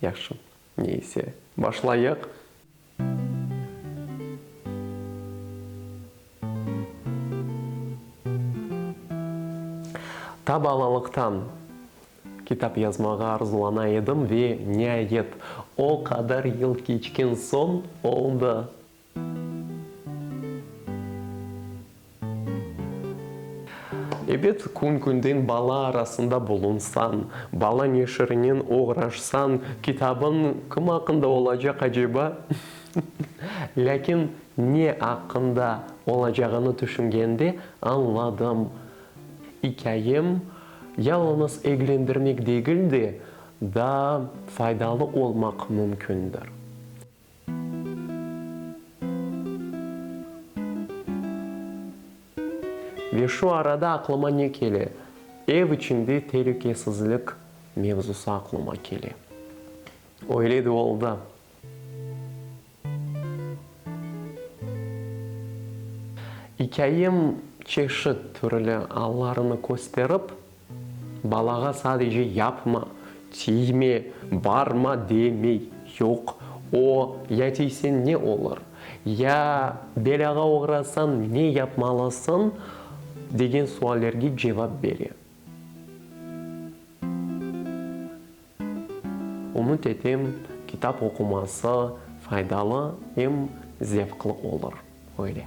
Yahşı, ne ise, başlayıq. Ta balalıqtan kitap yazmağa arzulana edim ve, niayet, o qadar yıl keçken soñ oldı. Ebet, kün-künden bala arasında bulunsañ, bala neşirinen oğraşsañ, kitabıñ kim aqqında olacaq aceba? Lâkin ne aqqında olacağını tüşüngende añladım, ikâyem yalıñız eglendirmek degil de, daa faydalı olmaq mümkündir. Ve şu arada aqlıma ne kele? Ev içinde telükesizlik mevzusı aqlıma kele. Öyle de oldı. İkâyem çeşit türlü allarını kösterip, Balağa sadece yapma, tiyme, barma demey, yoq, o, ya tiyseñ ne olur, ya belâğa oğrasañ ne yapmalısıñ, degen suallerge cevap bere. Ümüt etem, kitap oquması faydalı em zevqlı olur. Öyle.